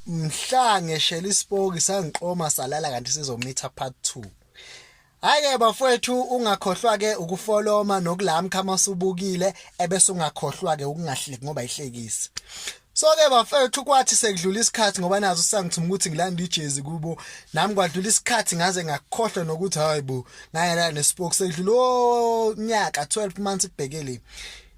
mhla ngeshela isipoki sangiqoma salala kanti sizomitha part 2 Haye bafowethu ungakhohlwa ke ukufoloma nokulamka uma subukile ebese ungakhohlwa ke ukungahleki ngoba ihlekisi So ke bafethu kwathi sekudlula isikhathi ngoba nazo sangithuma ukuthi ngilanda ijezi kubo nami kwadlula isikhathi ngaze ngakhohlwa nokuthi hayibo ngayela nespoke sekudlula onyaka 12 months kubhekele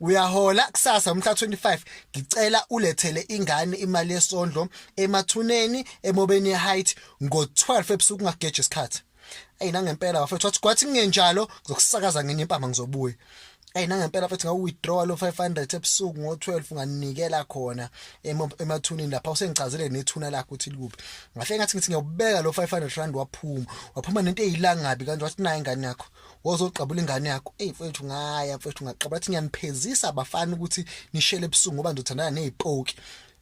Uyahola kusasa umhla 25 ngicela ulethele ingane imali yesondlo emathuneni emobeni height ngo 12 ebusuku ngageje isikhathi ayi nangempela bafethu wathi kwathi kungenjalo ngizokusakaza ngenye impama ngizobuya ayi nangempela bafethu ngawu withdraw lo 500 ebusuku ngo 12 unganikela khona emathunini lapha usengichazele nethuna lakho ukuthi likuphi ngahle ngathi ngithi ngiyobeka lo 500 rand waphuma waphuma nento eyilangabi kanti wathi nayi ingane yakho wozoqabula ingane yakho eyi mfethu ngaya mfethu ngaqabula athi ngiyaniphezisa abafana ukuthi nishele ebusuku ngoba ndizothandana nezipoki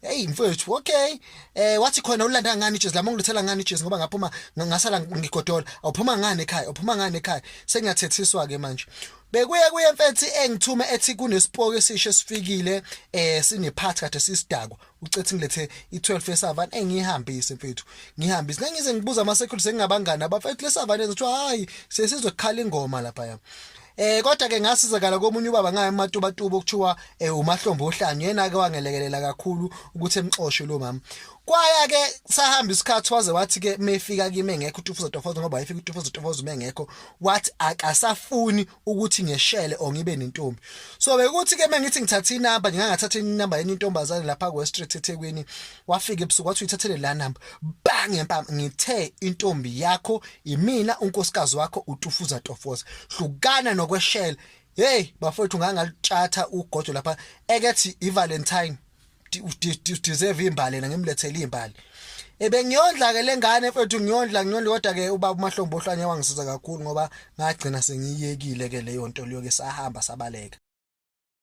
hey mfethu okay eh wathi khona ulanda ngani ijezi lami ngilithela ngani ijezi ngoba ngaphuma ngasala ngigodola awuphuma ngani ekhaya uphuma ngani ekhaya sengingathethiswa ke manje bekuye kuye mfethi engithume ethi kunesipoke esisho esifikile eh sinephathi kade sisidakwa ucethi ngilethe i12 yesavana engiyihambise mfethu ngihambise nengize ngibuza ama security sengingabangani abafethu lesavana ethi hayi sesizokhala ingoma lapha yami Eh kodwa ke ngasizakala komunye ubaba ngaye ematuba tuba okuthiwa eh umahlombo ohlanyo yena ke wangelekelela kakhulu ukuthi emxoshe lo mama. Kwaya ke sahamba isikhathi waze wathi ke mefika kimi engekho uTufuza Tofoza ngoba wayefika uTufuza Tofoza uma engekho wathi akasafuni ukuthi ngeshele or ngibe nentombi so bekuthi ke mengithi ngithatha inamba ngingathatha inamba yenye intombazane lapha ku street eThekwini wafika ebusuku wathi uyithathele la number bang ngempama ngithe intombi yakho imina unkosikazi wakho utufuza tofoza hlukana nokweshela hey bafowethu ngangalitshatha ugodo lapha ekethi ivalentine udeserve imbali na ngimlethele imbali ebengiyondla ke lengane mfethu ngiyondla ngiyondla kodwa ke ubaba umahlombo ohlanye wangisiza kakhulu ngoba ngagcina sengiyekile ke leyo nto leyo ke sahamba sabaleka